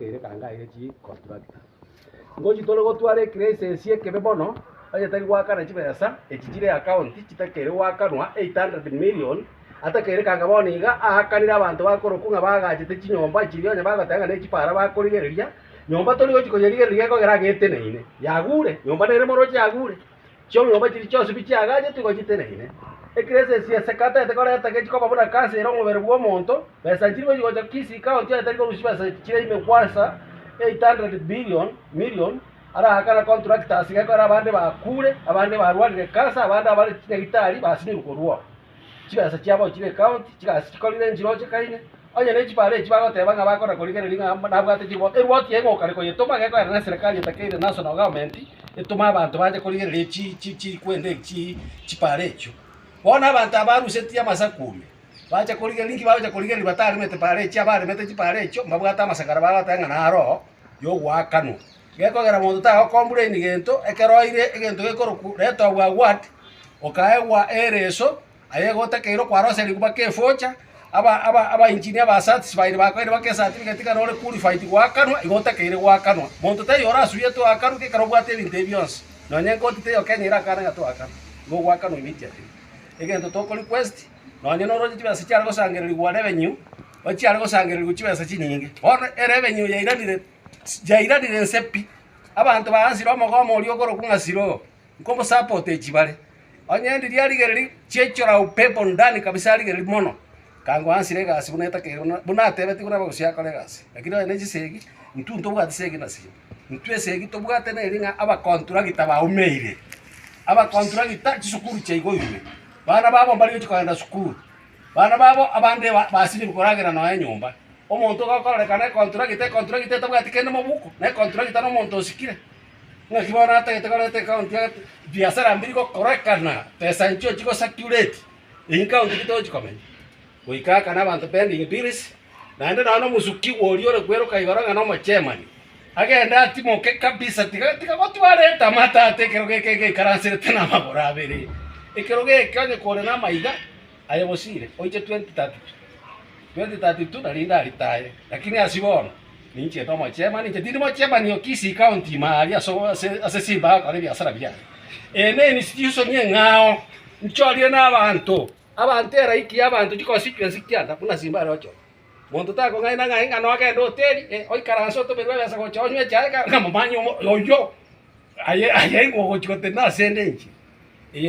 Ere kanga aye chi constructor. Ngochi tore gotwara ecrisis ekebe mono onye tari goakana chibesa echi chire account chitakeire goakanwa 800 million atakeire kanga bono iga aakanire abanto bakorokwa ng'a bagachete chinyomba chiria onye bagoteba ng'a ne chipara bakorigereria nyomba tori gochi koyerigereria egekogera agaaeteneine yagure nyomba nere moroche yagure. Chiong'obe chiria chionsi bi chiagaachetwe igo chiteneine. Ekero esese ya sekata ete kore etageti koba buna kansa ere omobere bw'omonto, besa nchiri gochi gocha kisi ikawa ntio etari korusia chibesa chire ime gwansa 800 billion, million, araakana contractors gekore abande bakuure, abande barwarire kansa, abande abare chinyagitari basinyirwe korwa oo. Chigasa chiabo chibe county, chigasi chikorire enchiroche kaire, onye ne chibare echi bagoteba ng'a bakora korigereria ng'a mba nabwate chirwa, erwoti eye ngokare koyetoma gekoenda ne serikali etakeire national government etome abanto bache korigereria chi chi chi kwende eki chii chibare echio. Bono abanto aba barusetie amasaku ime, bacha korigereria inki bagocha korigereria bataremete bare echi abaremete chibare echio mbabwate amasakara bagoteba ng'a naro yogoakanwa. Gekogera monto tagokombraini gento, ekero oire egento gekorokwa Letoboa Ward, okaegwa ereso, aye igo otakeirwe kwara gose riguma kia efocha, aba aba aba engineer ba certified bakoire baka ecertificate ng'a nore qualified goakanwa, igo otakeire goakanwa. Monto taiyo orasuyete oakanwe ng'a ekero obwate ebinto ebi bionsi, nonye ekoti taiyo Kenya erakane ng'a toakanwa, nigo ogoakanwa immediately. Egento toko request, nonye nore oche chibesa chiare gosangererigwa revenue, ochiare gosangererigwa chibesa chinyinge, bono erevenue yairanire. Chiairarire inse pi. Abanto bagansira omogoma oria okorokwa ng'a Siloa, nkomosapote echibare. Onye endi riarigereiri chiaichora upepo ndani kabisa arigereiri mono, kangwa ansire egasi buna etakeire buna buna atebetie buna bogosi akore egasi. Lakini onye ne chisegi, intwe ntobwati segi na sio. Intwe esegi tobwate neri ng'a abakonturagita baumeire, abakonturagita chisukuru chiaigwa ime, bana babo mbarigochia kogenda sukuru, bana babo abande ba basinyire koragera nonya enyomba. Omonto ogokorereka nekonturagita, ekonturagita etabwati kende mobuko, na ekonturagita nomonto osikire. Ng'aki bono atagete koreta ekaunti ya biasara mbiri gokorekana, pesa enchio chigosacurate, eyio ekaunti ki togochi komenya. Goika aka na abanto pending bills, naende nonya na omosuki oria ore kweroka igoro ng'a na omochairman, agende atimoke kabisa tiga tiga gotwara etamata ata ekerogo eke egeikaranserete na amagoro abere. Ekerogo eke onye kore na amaiga, Aye bosire oiche 2032 2032 narinde aritaye lakini ase bono ninchete omochemani inche tindi mochemani o Kisii county ime aria ase o ase ase Simba agokora ebiasara biaye Eye ne enisi chisoni eng'ao nchorire na abanto abanto eraiki ya abanto chi constituency kianda buna Simba are ochore monto takong'aina ng'ai ng'a nogende hoteli eh oikaranse otomerwe ebesa gocha onywe echae kare ng'a momanye omo oyio aye aye aye ogochi goteba nase ende inche eye.